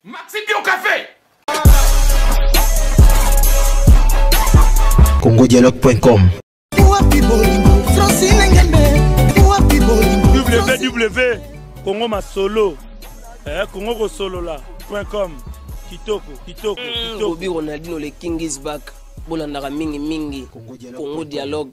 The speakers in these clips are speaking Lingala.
Maxi Bio Café. congodialogue.com www congo masolo eh, congo kosolola com kitoko kitoko mm, kitoko obi ronaldino le king is back bolandaka mingi mingi congo dialogue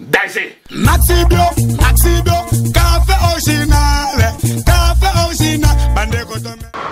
danger maxibio maxibio café original café original bandeko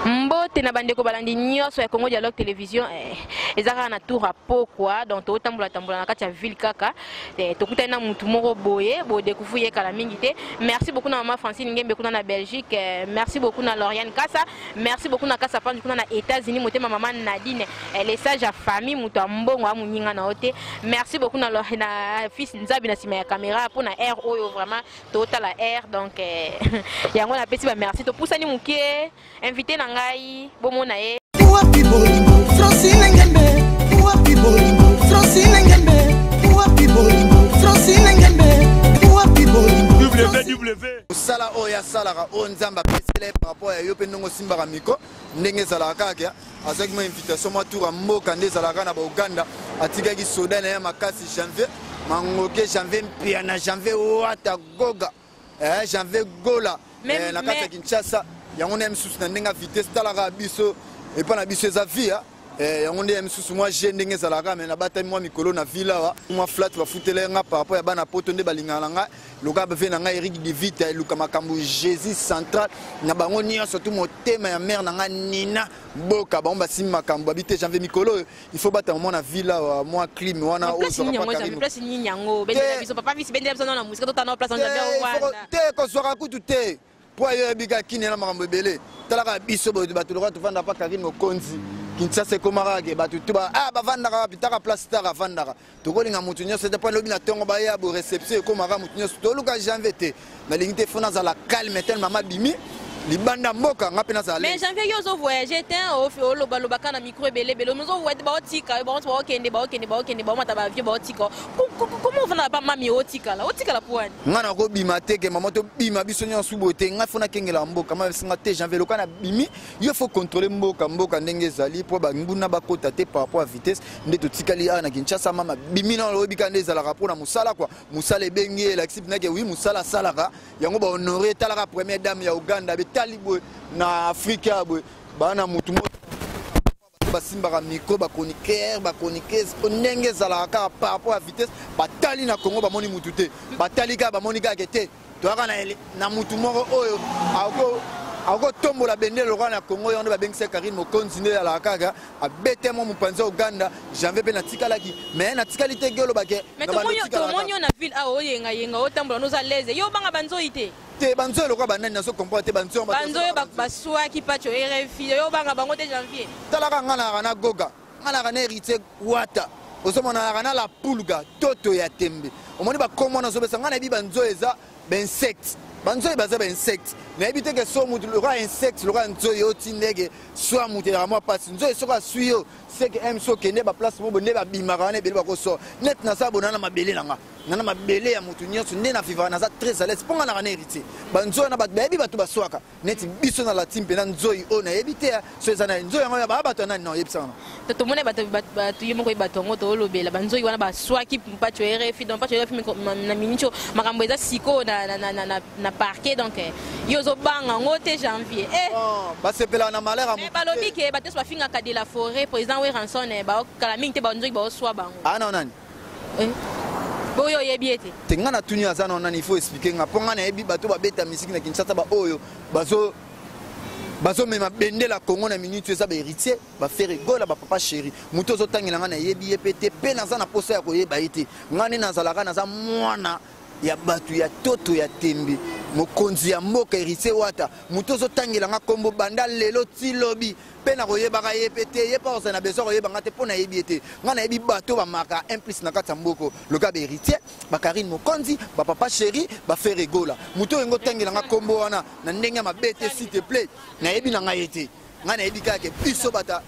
mbote na bandeko balandi nyonso ya congo dialogue télévision eh, eza kaka na tour ya pokwa donc tokotambola tambola na kati ya ville kaka eh, tokutani na motu moko boye bodekufu ye kala mingi te merci beaucoup na mama francine ngembe kuna na belgique eh, merci beaucoup na loriane kasa merci beaucoup na kasa panji kuna na états-unis motema mama nadine elle est sage ya famille moto ya mbongo amoninga na yo te merci beaucoup na, na fils nzabi na nsima ya caméra mpo na aire oyo vraiment totala aire donc eh, yango napesi bamerci topusani moke invité na ngai bomona ye wapi bolingo francine ngembe wapi bolingo francine ngembe wapi bolingo francine ngembe wapi bolingo ww osala oyo asalaka oyo nzambe apesela ye par Mpo ya yo pe ndenge osimbaka micro ndenge ezalaka kaka kia azwaki mwa invitation mwa tour ya mboka nde ezalaka na bauganda atikaki soda na ye makasi janvier mangoke janvier mpiana janvier wata goga eh, janvier gola eh, na kati ya kinshasa yango na ye misusu na ndenge ya vitesse talaka biso epai na biso eza via ah. Eh, yango nde ya misusu mwa je ndenge ezalaka me nabatami mwa mikolo na ville awa mwa flat bafutela ye nga par rapport ya bana poto nde balingaka na ngai loka bave na ngai eric divite eluka makambo jésus central na bango nyonso tu motema ya mare na ngai nina boka bango basimi makambo babi te janvier mikolo oyo il faut batama mwa na ville awa mwa clime wana te kozwaka kutu te mpo ayo yabi kaka kimya na makambo ebele tala kaka biso boye bato lokola tofanda mpa karine mokonzi kinshasa ekomaka kake bato tu ba ah, bavandaka wapi taka place taka avandaka tokolinga moto nyonso te mpo lobi na ntongo baya bo réception ekomaka moto nyonso toluka janvier te nalingi te fo nazala calme tele mama bimi libanda mboka nga mpe nazala mais janvier yo ozo voyage te olobaloba kaka na micro ebele ebele ozo baotika yo baotikende baokende baokende baomata baavio baotika koma ofanda na bamami otikala otikala mpo wani ngai nakobima te ke mama tobima biso nyonso boye te ngai fo nakengela mboka masinga te janvier loka nabimi yo fo controle mboka mboka ndenge ezali mpo banguna bakota te par rapport ya vitesse nde totikali awa na kinshasa mama bimi na olobi kaka nde ezalaka mpo na mosala kua mosala ebengi ye elakisi mpena ke wi mosala asalaka yango bahonore etalaka première dame ya uganda betali boye na afrika boye bana motu moko basimbaka micro bachroniqueur bachroniqueuse mpo ndenge ezalaka kaka par rapport ya vitesse batali na congo bamoni mutu te batali kaka bamoni kaka ke te toyaka na mutu moko oyo akotombola bendele lokola na congo yango nde babengisa karine mokonzi nde ezalaka kaka abete mwa mopanzi ya uganda janvier mpe natikalaki me natikali te ge olobake tomoni yo na ville awa oyengayenga otambola noza lese yo obanga banzoi te te banzoyo lokola banani nazo comprendre te banzoyo banzoyo basuaki pacho rfi yo obanga bango te janvier talaka ngai nayaka na goga ngai nayaka na héritier wata ozomona nayaka na la pulga toto ya tembe omoni bakomo wana ozobesa ngai nayebi banzoyo eza bainsecte banzoyi baza bainsecte nayebi te ke so motu lokola insecte lokola nzoyi oti ndege swa motu elaka mwa mpasi nzoyi soki aswi yo seke m so okende baplace mobo nde babimaka wana ebele bakoswa neti naza bonana mabele na nga nga na mabele ya moto nyonso nde na vivaka naza très alaise mpo nga naka na héritier banzoi na bato bayebi bato baswaka neti biso na latin mpe na nzoi oyo nayebi te so eza na nzoi yango baa bato ya nani na oyebisa wana to tomoni bato ye moko ye bato yango toolobela banzoi wana baswaki mpaco ya rfi donc mpaco ya rfi na miniti oyo makambo eza sikoyo na parquet donc eh, yo ozobanga yango te janvier eh. oh, basepelaka na malheur eh, balobi ke bato nyonso bafingaka de la forêt président weranson baokala mingi te banzoi baoswa bango ana ah, nani eh. boyo oyebi ye te te ngai natuni aza na nani ifo explike ngai mpo ngai nayebi bato babeta misiki na kinshasa baoyo bazo bazomema bendela kongo na minute oyo eza baheritier bafere gola bapapa sheri moto ozotangela ngai nayebi ye mpe te mpe naza na mposa ya koyeba ye te ngai nde nazalaka naza mwana ya bato ya toto ya tembe mokonzi ya mboka heritier wata moto ozotangela ngai nkombo banda lelo ti lobi mpe nakoyebaka ye mpe te ye mpe akozala na besoin koyeba ngai te mpo nayebi ye te ngai nayebi bato bamaka implice na kati ya mboko loka baheritier bakarine mokonzi bapapa chéri bafere gola moto oyo yango otangela ngai nkombo wana na ndenge ya mabe te s'il te plaît nayebi na ngai ye te ngai nayebi kaka ke biso bata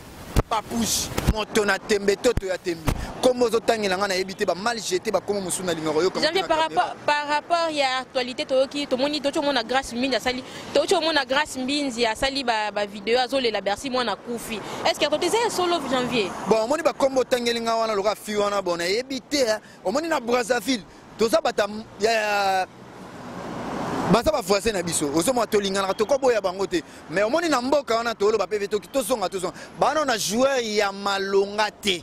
papouche moto na tembe toto ya tembe nkombo ozotangela ngai nayebi te bamal jete bakombo mosusu nalingaka oyoka par rapport ya actualité toyoki tomoni toki omona grace mingi asali toki omona grace mbinzi asali bavideo azolela bercy mwana akufi estce akote eza ya solo janvier bon omoni bakombo otangeli nga wana lokola fi wana bon nayebi te omoni na brazzaville toza bata ya baza bavoisin na biso ozomona tolinganaka tokoboya bango te mais omoni na mboka wana tooloba mpe tozonga tozonga bana na joueur ya malonga te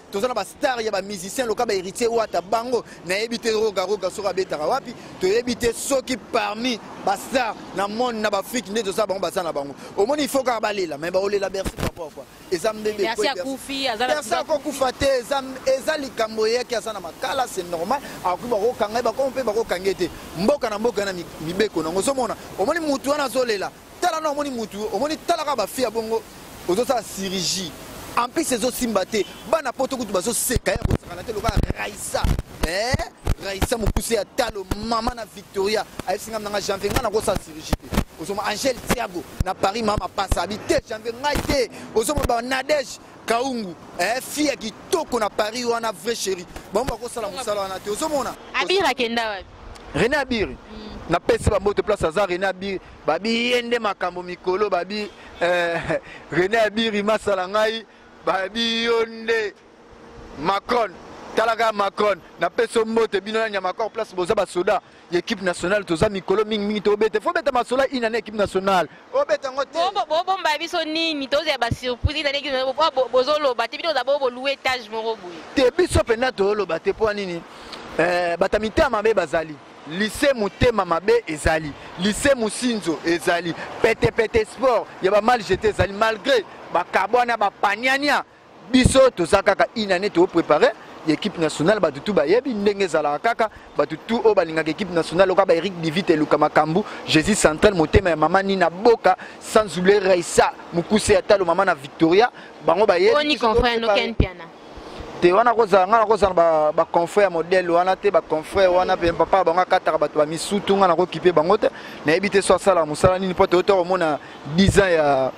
toza na bastar ya bamusicien loka ba héritier wata bango nayebi te roga roga soki abetaka wapi toyebi te soki parmi bastar na monde na baafrike nde toza bango baza na bango omoni ifo kaka balela mai baolela bersi papakua eza mbebebersi akokufa te eza likambo eyaki aza na makala c'est normal akoki bakokanga ye bakoma mpe bakokanga ye te mboka na mboka na mibeko nango ozomona omoni motu wana azolela tala na omoni mutu omoni tala kaka ba fille ya bongo ozosala chirurgie en plus ezosimba te bana poto kutu bazoseka ya kosakana te lokola raisa eh? raisa mokuse ya talo mama na victoria ayebisi ngai nanga janvier ngai nakosala chirurgie te ozoma angel tiago na paris mama pasa abi te janvier ngai te ozoma ba nadege kaungu eh, fille ya kitoko na paris wana vrai chéri bango bakosala mosala wana te ozomona abir akenda wapi rene abir mm. napesi bambote place aza rene abir babi ye nde makambo mikolo babi eh, rene abiri masala ngai babi yo nde macron talaka macron napesi mbote bino na nyamakor place boza basoda ya équipe nationale toza mikolo mingimingi tobete fo beta masola ina na équipe nationale obeta yango te bobomba biso nini tozela basurprise ina nini bozoloba te bino oza bobolue etage moko boye te biso mpenza toloba te mpo nini eh, bato ya mitema mabe bazali Lycee motema mabe ezali, lycee Musinzo ezali, pete pete sport ya ba mal jete ezali malgré ba kabwana ba paniania biso toza kaka une année to préparer ya équipe nationale bato tu bayebi ndenge ezalaka kaka bato tu oyo balingaka équipe nationale oka ba eric divite eluka makambo jésus central motema ya mama nina boka sans oublier raisa mokuse ya talo mama na victoria bango bayebi te wana kozala ngai nakozala na baconfrère ya modèle wana te baconfrère wana mpe papa bango akataka bato bamisutu ngai nakokipe bango te nayebi te so asalaka mosala nini mpo toyota komona 10 ans ya,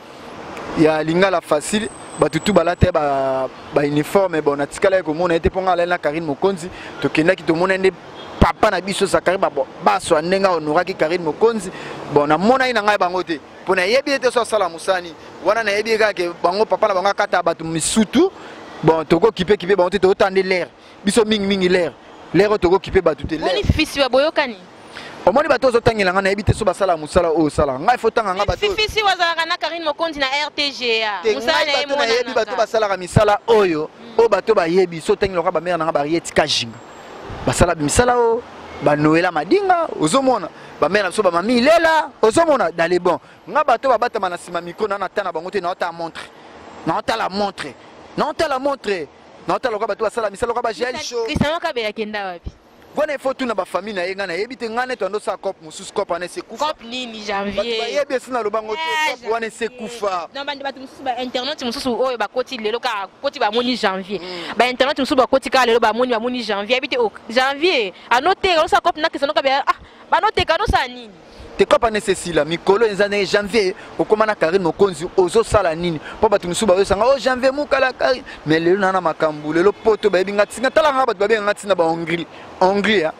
ya lingala facile bato tu balata bauniforme bon natikalaki komona ye te mpo ngai alali na karine mokonzi tokendaki tomona nde papa na biso zakari baswa ndenge ahonoraki karine mokonzi bon namonaki na ngai bango te mpo nayebi ete so asala mosala nini wana nayebi kaka ke bango papa na bango akata bato misutu bon tokokipe kipe bango te tokota nde lere biso mingimingi lere lere oyo tokokipe bato te lere fisi ya boyokani omoni bato ozotangela ngai nayebi te so basala mosala oyo osalaka ngai fotanga ngai batofisi wazalaka na karine mokonzi na rtga nayebi bato basalaka misala oyo oyo bato bayebi so otangi loka bamere na ngai barieti kajinga basala misala o banoela madinga ozomona bamela na biso bamami ilela ozomona dale bon nga bato babatama na nsima mikro na nata na bango te naotala montre naotala montre naotala montre naotala loka bato basala misala loka bagialisho kristiano kabela kenda wapi wana ifo tuna bafamille na ye ngai nayebi te ngai neti andosala cop mosusu cop wana esekufa cop nini janvier bayebi esi naloba ngo te eh, cop wana esekufa non bande bato mosusu bainternet mosusu oyo bakoti lelo kaka koti bamoni janvier hmm. bainternet mosusu bakoti kaka lelo bamoni bamoni janvier yebi te oh, janvier anoteka nosala cop nakesa noka bia ah banoteka nosala nini te cop wana esesila mikolo eza ndenge janvier okoma na karine mokonzi ozosala nini mpo bato mosusu bayosanga o oh, janvier mokala karine mais lelo na na makambo lelo poto bayebi nga ntina talaka nga bato babenga nga ntina bahongrie hongrie ah.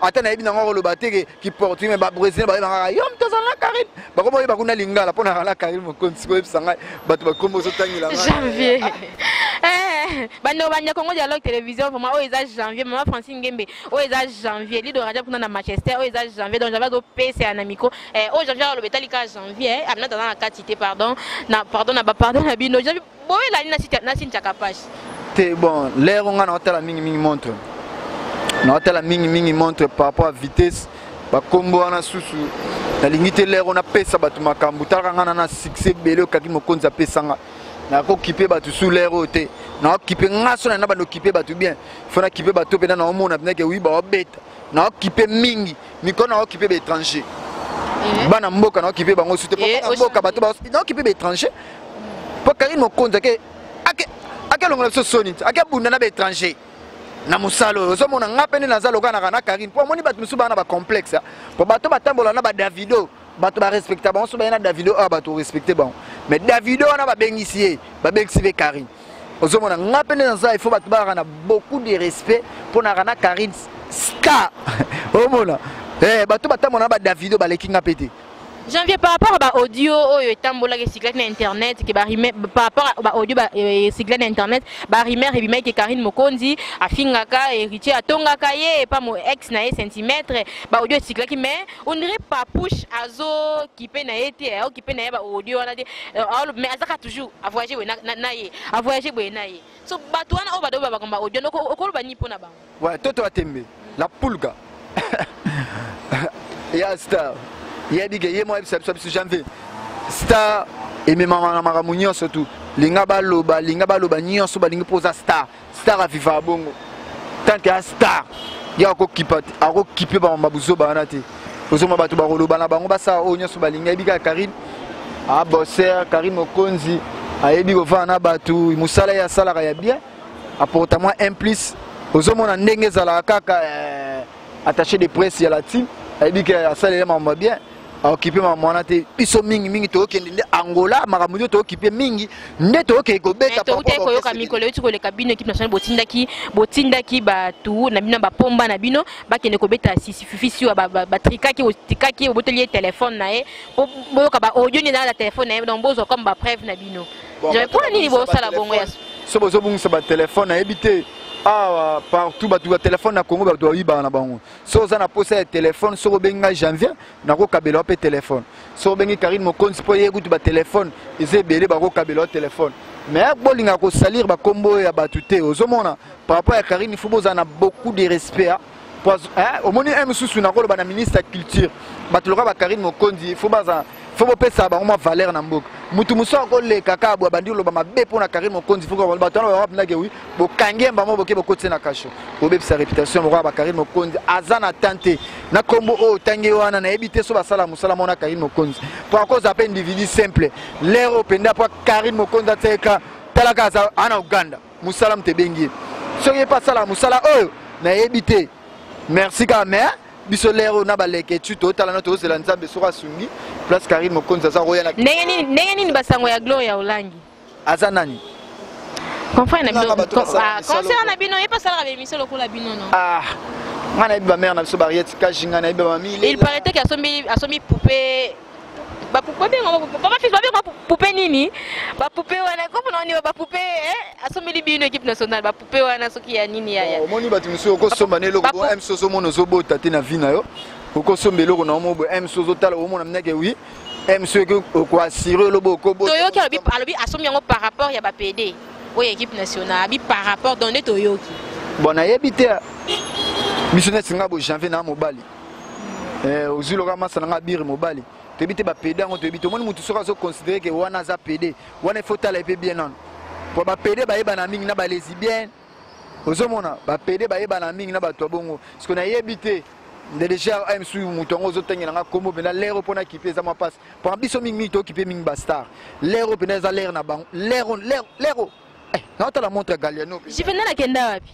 ata nayebi nango akoloba te ke kiportugais me babrésilien bayeba kaka yom toza na karine bakoma oyeba kuna lingala mpo naka na karine mokonzi koyebisa ngai bato bakombo ozotangela janvier eh, bandeko banja congo dialogue télévision vraiment oyo eza janvier mama francine ngembe oyo eza janvier lido raja kuna na manchester oyo eza janvier donc janvier azopesela na micro eh, oyo janvier akoloba etali kaka janvier eh, abinata aza na kati te pardon na pardon na bapardon na bino boye lani na sini chakapash te bon l'air nga na otala mingi mingi montre na otala mingi mingi montre par rapport à vitesse ba kombo wana susu nalingi te l'air ona pesa batu makambu talaka nga na na succès belé okaki mokonzi apesa nga nakokipe bato sous l'air oyo te naokipe nga so na na bando okipe bato bien fo nakipe bato mpenza naomona mpenza ke wi baobeta na okipe mingi mikolo na okipe ba étranger eh. bana mboka na okipe bango sute po eh, bana mboka bato ba na okipe ba étranger po Karine Mokonzi ake ake ake longola biso soni ake bunda na ba étranger na mosala oyo ozomona nga mpe nde naza lokanaka na karine mpo amoni bato mosusu baa na bacomplexe ah. mpo bato batambola na badavido bato barespecta bango so baye na davido oyo ah, bato orespecte bango mais davido wana babengisi ye babengisi mpe karine ozomona nga mpe nde naza ifo bato bayaka na beaucoup de respect mpo nayaka na carine ska omona eh, bato batambola na badavido baleki nga mpe te janvier par rapport ba audio oyo etambolaki esikilaki na internet ke par rapport ba audio esikila na internet barimaire ebimaki ke karine mokonzi afingaka héritier atongaka ye epa mo ex na ye centimètre ba audio esikilaki mais on dirait papouche azo kipe na ye te ao kipe na ye baaudio wana te euh, mais azaka toujours avoyage boye na ye avoyage boye na ye so bato wana oyo bado babakomba baaudio noko okoloba nini mpo na bango ouais, toto ya tembe la pulga ya star yebike ye mwa yebisa biso biso janvier star ememama na makambo nyonso tu linga baloba linga baloba nyonso balingi mpo oza star star avivaka bongo tant que a star ye akokipa akokipe bamama buzoba wana te ozoma bato bakoloba na bango basala oyo nyonso balingi ayebi kaka karine aboser karine mokonzi ayebi kovanda na bato mosala ye asalaka ya bien aporta mwa un plus ozomona ndenge ezalaka kaka eh, attaché de presse ya la team ayebi ke asalela makambo ya bien aokipe makambo wana te biso mingi mingi tokokende nde angola makambo nde tokokipe mingi nde tokokende kobeta toutaki koyoka mikolo euti koleka bino ekipe nationale botindaki botindaki bato na bino na bapomba na bino bakende kobeta sisififi siwa batrikaki otikaki obotoli ye telefone na ye po boyoka baaudio nde naa na telefone na ye donc bozwa comme bapreuve na bino mpo na nini bosala bongo ya so bozobungisa batelefone nayebi te awa ah, partout bato ya telefone na congo bato bayibaka na bango soki oza na posa ya telefone soki obengi ngai janvier nakokabela mpe telefone soki obengi karine mokonzi mpo ye kutu batelefone eza ebele bakokabela telefone mais bolinga kosalir bakombo oyo ya bato te ozomona par rapport ya karine fo bozala na beaucoup de respect omoni ye mosusu nakoloba na ministre ya culture bato loka bakarine mokonzi fo bazala fo bopesa bango mwa valeur na mboka motu mosusu akoleka kaka boye abandi koloba mabe mpo na carine mokonzi fo bato wana babapinake wi bokangi ye mbamo boke bokotise na kasho bobebisa réputation moko ya bacarine mokonzi aza na temps te na nkombo oyo otangi wana nayebi te so basala mosala mona carine mokonzi mpo akoza mpe individu simple lere oyo mpenza mpo carine mokonzi ateka talaka aza ana uganda mosala moto ebengi ye soki ye mpe asala mosala oyo nayebi te merci kaka mais biso lere oyo na baleketsu totala no tozela nzambe soki asungi place karine mokonzi aza koya na ndenge nini ndenge nini basango ya gloria olangi aza nani concert na bino concert na bino ye mpe asalaka bemission lokola bino no ah, nga nayebi bamare na biso bariete kashi nga nayebi bamami il paraît te ke asombi poupe bapupe nini bapupe wana komona wana bapupe eh, asombeli bino équipe nationale pe wana soki ya nini yaya oh, omoni bato mosusu okosomba na eloko bo mso ozomona ozobota te na vi na yo okosomba eloko na omo bo mso ozotala omona mneke wi mso okoassure elobo okobotoyoki alobi asombi yango par rapport ya bapede oyo équipe nationale abi par rapport donc nde toyoki bon nayebi te biso neti nga bo janvier na mobali eh, ozwi loka masa na nga bire mobali toyebi te bapede yango toyebi te omoni motu soki azoconsidere ke wana aza pede wana ifo tala epe bien nano po bapede bayebana mingi na balesibienne ozomona bapede bayebana mingi na bato ya bongo siko nayebi te deja msu moto yango ozotangela nga nkombo mpenza lere oyo mpona kipe eza mwa mpasi mpona biso mingi mingi tokipe mingi bastar lere oyo mpenza eza lere na bango lere lere naotala montre galiano juvenal akenda wapi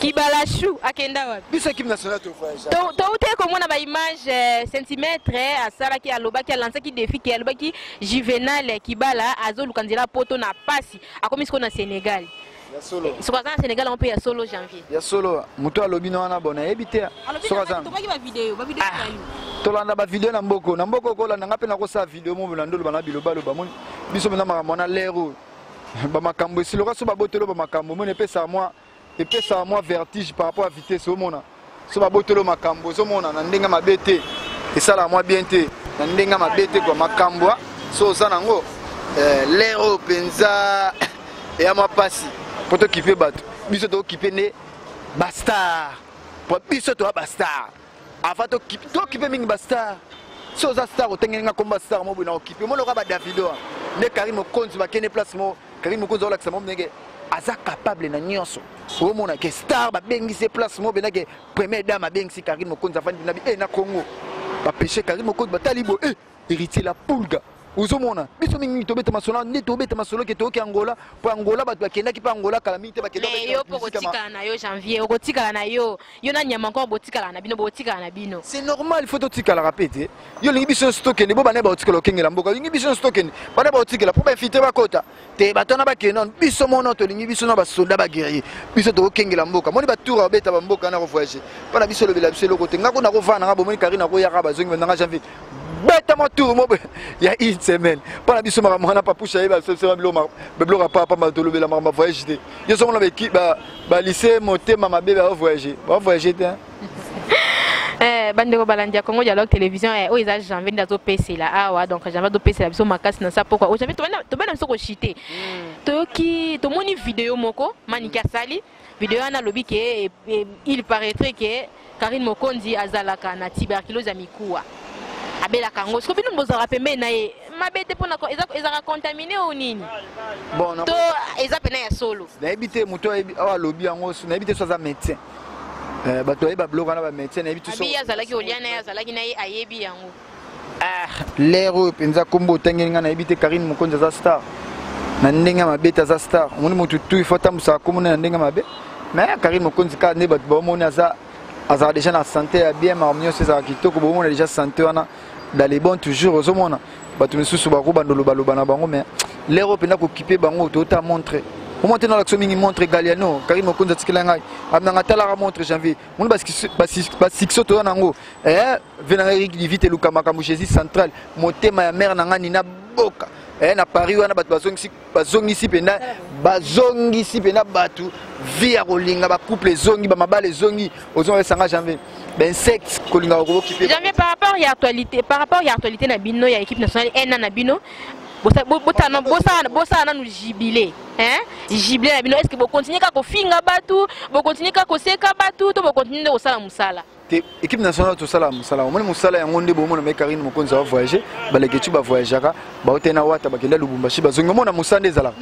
kibalashu akenda wapi biso ekipe nationale tovoyage toutaki komona baimage euh, centimètre euh, asalaki alobaki alansaki défi ke alobaki juvenal euh, kibala azoluka nzela poto na pasi akomi sikoyo na sénégal soki aza na sénégal yango mpe ya solo janvier ya solo moto alobi na wana bona ayebi te tolanda bavideo na mboko na mboko kolanda ngai mpe nakosala video mobona ndoloba na bilobaloba moni biso mena makambo wana lere oyo bamakambo esiloka so babotolo bamakambo omona epesaka mwa epesaka mwa vertige par rapport ya vitesse omona so babotolo makambo ozomona na ndenge mabe te esalaka mwa bien te na ndenge mabe te kua makambo so oza nango eh, lere oyo mpenza eya mwa mpasi mpo tokipe bato biso tokokipe nde bastar mpo biso toya bastar Avant to kipe to kipe mingi ba star. Si oza star otengeli nga komba star mo bina okipe mo loka ba Davido. Ne Karim Okonzi ba kene place mo Karim Okonzi ola kisa mo ndenge aza capable na nyonso. Wo mona ke star ba bengi se place mo bina ke première dame a bengi si Karim Okonzi afandi na bi e eh, na Congo. Ba pêche Karim Okonzi ba talibo e. Eh. Héritier la pulga ozomona biso mingi mingi tobeta masolo nde tobeta masolo ke toyoki angola mpo angola bato bakendaki mpe angola kala mingi te bakendaki yo mpo okotikala na yo janvier okotikala na yo yo na nyama encore botikala na bino botikala na bino c'est normal il faut totikalaka mpe te yo olingi biso nyonso tokende bo bana baotikala okengela mboka olingi biso nyonso tokende bana baotikela mpo bainfiltre bakota te bato wana bakende nano biso mono tolingi biso na basoda baguerrier biso tokokengela mboka moni batour abeta bamboka wana kovoyage mpo na biso olobela biso eloko te nga ko nakovanda nanga bomoni kari nakoyaka bazongi bananga janvier beta mwa tour mo ya une semaine mpo na biso makambo wana papusha ayeba biloko apapamba tolobela makambo ya voyage te yo sokomona balycée motema mabe baovoyage baovoyage te Eh, bandeko balandi ya congo dialogue télévision eh, oyo eza janvier nde azopesela awa ah, donc janvier azopesela biso makasi na sa pokwa oyo oh, janvier tobenda biso koshite hmm. toyoki tomoni video moko maniki asali video wana alobi ke eh, eh, il paraîtrait ke karine mokonzi azalaka na tuberculose ya mikuwa abelaka yango siko bino bozalaka pembeni na ye mabe te mpona ezalaka contamine o nini to eza mpena ya solo nayebi te moto awa alobi yango nayebi te so aza médecin Eh, bato baye babloka na bamédecin nayebi tuabi azalaki olia na ye azalaki na ye ayebi yango ah, lere oyo mpenza nkombo otangeli ngai nayebi te karine mokonzi aza star na ndenge ya mabe te aza star omoni motu tu ifo atambusaka nkombo na ndenge ya mabe mais karine mokonzi kaka nde bato baomoni aza azalaka déjà na sante ya bien makambo nyonso ezalaka kitoko bomona déjà sante wana dans les bon toujours ozomona bato misusu bakobanda lobaloba na bango mais lere oyo mpenza kokipe bango toyota montre omwa te nalakisa mingi montre galiano karine mokonzi atikela ngai amnanga atalaka montre janvier moni basuccès toza na yango eh, venanga erik divite eluka makambo jésus central motema ya mare na ngai nina boka eh, na paris wana bato bazongisi bazongisi mpenza bazongisi mpenza bato vie ya kolinga bacouple ezongi bamabala ezongi ozonga esanga janvier bainsecte kolinga bakobokipe janvier par rapport ya actualité par rapport ya actualité na bino ya équipe nationale ena na bino bosala nanu jibile jibile na bino est ce que bokontinue kaka kofinga bato bokontinue kaka koseka bato to bokontinue nde kosala mosala te équipe nationale tosala mosala omoni mosala yango nde bomona me karine mokonzi awa voyage balekeci bavoyageaka baote na wata bakenda lubumbashi bazongi omona mosala nde ezalaka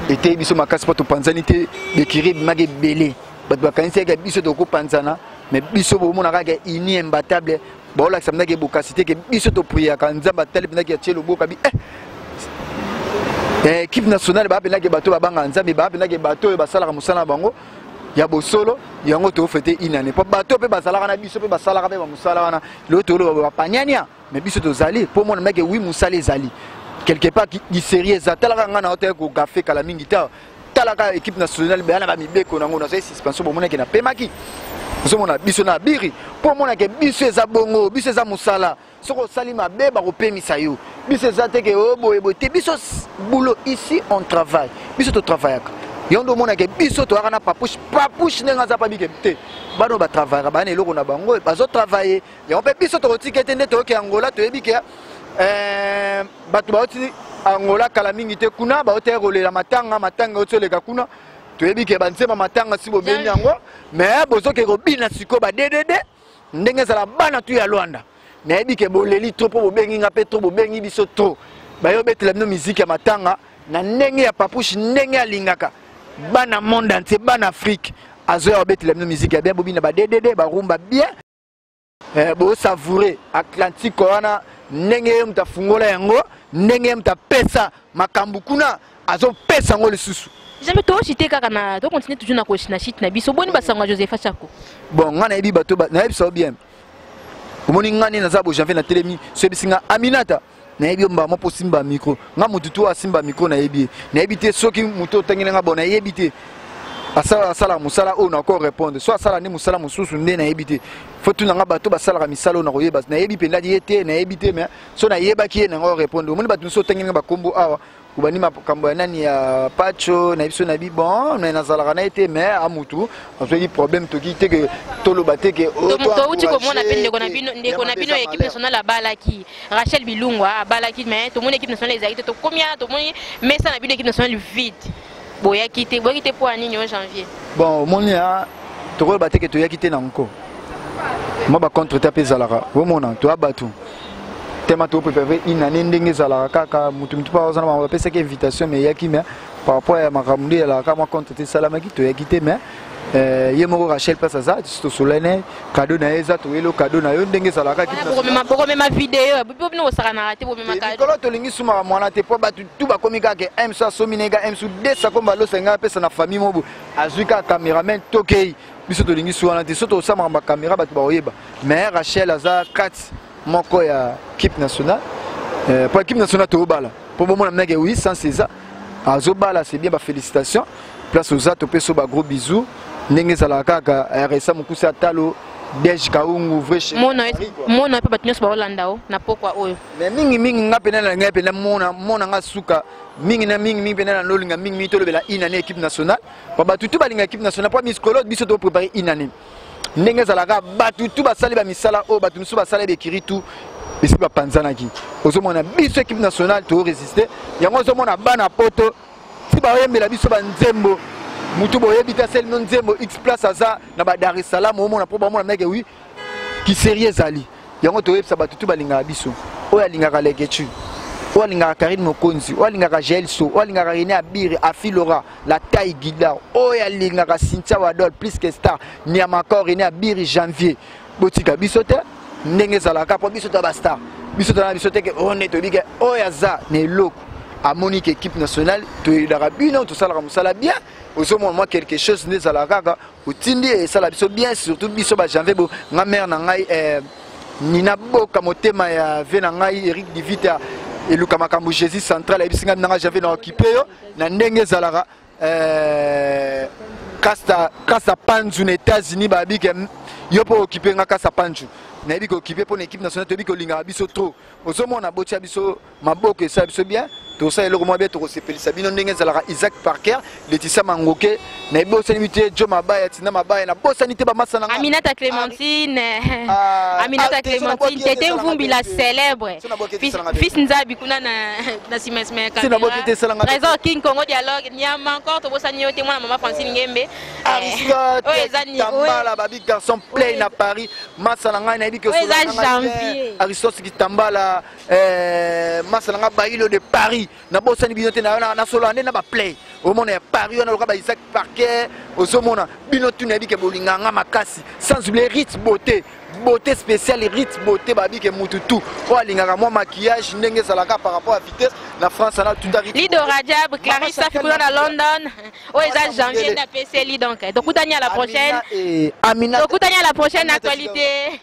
eteyi biso makasi mpo topanzani te bekiri ebimaka ebele bato bakanisaki biso tokopanzana mais biso bomona kaka uni imbatable baolakisa mpenza ke bokasi te ke biso topriaka nzambe atali mpenza ke atie loboka bi eh, eh, équipe nationale baa mpenza ke bato babangaka nzambe baa mpenza ke bato oyo basalaka mosala na bango ya bosolo yango tofete inane mpo bato mpe bazalaka na biso mpe basalaka mpe bamosala wana lelo toloba bapaniania me biso tozali mpo mona meke wi mosala ezali quelque part diserie eza talaka ngai nao tali kogafe kala mingi ta talaka équipe nationale beyana bamibeko nango nazali suspension bomonake napemaki ozomona biso na biri mpo omonake biso eza bongo biso eza mosala soki osali mabe bakopemisa yo biso eza te ke o oh, boye boye te biso boulot ici on travaille biso totravaillaka yo nde omonake biso toyaka na papouche papouche ndenge aza pabike te bana oyo batravayaka bana eloko na bango bazotravaille yango mpe biso tokotike te nde toyoki angola toyebi ke eh, bato bauti angola kala mingi te kuna baotaya kolela matanga matanga euti oleka kuna toyebi ke banzema matanga si bobendi yango mais bozokeke kobina sikoyo badedede ndenge ezala bana tu ya lwanda nayebi ke boleli trop mpo bobengi nga mpe trop bobengi biso trop baye obetela bino miziki ya matanga na ndenge ya papouche ndenge alingaka bana monde entier bana afrique azoya kobetela bino miziki ya bien bobina badedede barumba bien eh, bosavoure atlantique wana ndenge ye moto afungola yango ndenge ye moto apesa makambo kuna azopesa yango lisusu jamais toshite kaka na tocontinue toujours na shite na biso boni basango ya josepha chako bon ngai nayebi bato nayebisa yo bien omoni ngai nde naza bojanvier natelemi soyebisi ngai aminata nayebi yo mbala moko osimba mikro ngai motu to asimba mikro nayebi ye nayebi te soki motu otangeli ngai bon nayebi te asala asala mosala oyo nako répondre so asala nde mosala mosusu nde nayebi te fo tuna nga bato basalaka misala oyo nakoyeba nayebi mpenza ye te nayebi te mais so nayebaki ye nango répondre omoni bato mosusu otangeli nga bakombo awa obandi makambo ya nani ya pacho na biso na bi bon me nazalaka na ye te mais a mutu azwaki problème toki te ke toloba te ke oh, touti komona mpe ndeko na bino ndeko na bino ya équipe nationale abalaki rachel bilungwa abalaki mais tomoni équipe nationale ezalaki te tokomi awa tomoni mesa na bino équipe nationale vide boyaki te boyaki te mpo ya nini o janvier bon omoni ya tokoloba te ke toyaki te na nko mwa bacontre te mpe ezalaka omona toya bato tema toprépare une année ndenge ezalaka kaka motu motu mpa ozana bango bapesaki invitation mais eyaki mais par rapport ya makambo nde ezalaka mwa contre te esalamaki toyaki te mais Euh, ye moko rachel place aza tosolene kado na ye eza toyeli o kado na yo ndenge ezalaka bokomema video bobi bino kosakanaka te bomemalikolo tolingi sumaka mwana te mpo bato tu bakomi kaka ems asomi na ega ems desa kombo alosa ngai apesa na famille mobo azwi kaka cameraman tokei biso tolingi su wana te so tokosamaka bakamera bato bakoyeba mais rachel aza kati moko ya kipe nationale eh, mpo kipe nationale tobala mpo bomona mnake oui sans eza azobala c'est bien bafélicitation place oza topesa ba gros bisous ndenge ezalaka kaka eh, resa mokuse ya talo dej kaungu vremona ye mpe bato nyonso baolanda o na pokwa oyo me mingimingi nga mpe nalala ngai mpe namona nga suka mingi na mingi mingi mpe nalala nolinga mingi mingi tolobela inane équipe nationale po bato tu balinga équipe nationale mpo miskolo biso toprépare inane ndenge ezalaka bato tu basali bamisala oyo bato mosusu basala bekiri tu esi bapanzanaki ozomona biso ekipe nationale toresiste yango ozomona bana poto ti baoyembela biso banzembo motu boyebi te aselino nzembo x place aza na badar es salaam omona mpo bamona meke wi kiserie ezali yango toyebisa bato tu balingaka biso oyo alingaka legetu oyo alingaka karine mokonzi oyo alingaka gelso oyo alingaka rene abire afilora la taille gidar oyo alingaka cynthia wadol plus que star niamacor rene abire janvier botika biso te ndenge ezalaka mpo biso ta bastar biso tana biso teke oyo oh, nde toyebi ke oyo aza na eloko amoni ke équipe nationale toyelaka bino tosalaka mosala bien ozomona mwa quelque chose nde ezalaka kaka otindi esala biso bien surtout biso ba janvier bo nga mère na ngai eh, nina boka motema ya vie na ngai eric divita eluka makambo jésus central ayebisi ngai nanga janvier na okipe yo na ndenge ezalaka eh, kasta kasta panzu na états-unis babi ke yo mpo okipe nga kasta panzu nayebi kokipe mpo na équipe nationale toyebi kolingaka biso trop ozomona botya biso maboko esala biso bien tosala eloko mwa bien tokosepelisa bino ndenge ezalaka isaac parker letisa mangoke nayebosani bi te jo mabaya tina mabaya nabosani te bamasa na aminata clémentine ah, ah, aminata ah, clémentine tete mvumbi la célèbre fils nzabi kuna na sima sima ya trésor king congo dialogue niama encore tobosani yo te mwana mama francine ngembe aristotambala eh, babi garçon play na paris masa na ngai nayebi ke aristote kitambala Eh, masa na nga bailo de paris nabosani bino te nasolola nde na baplay omona ya paris wana loka baisak parquet ozomona bino tuna yebike bolinga nga makasi sans oublie rite beauté beauté spéciale rite beauté babike mutu tout oyo alingaka mwa maquillage ndenge ezalaka par rapport à vitesse na france na tuta lido rajab clarisse afikula na london oyo eza janvier nde apeseli donc tokutani à la prochaine tokutani à la prochaine actualité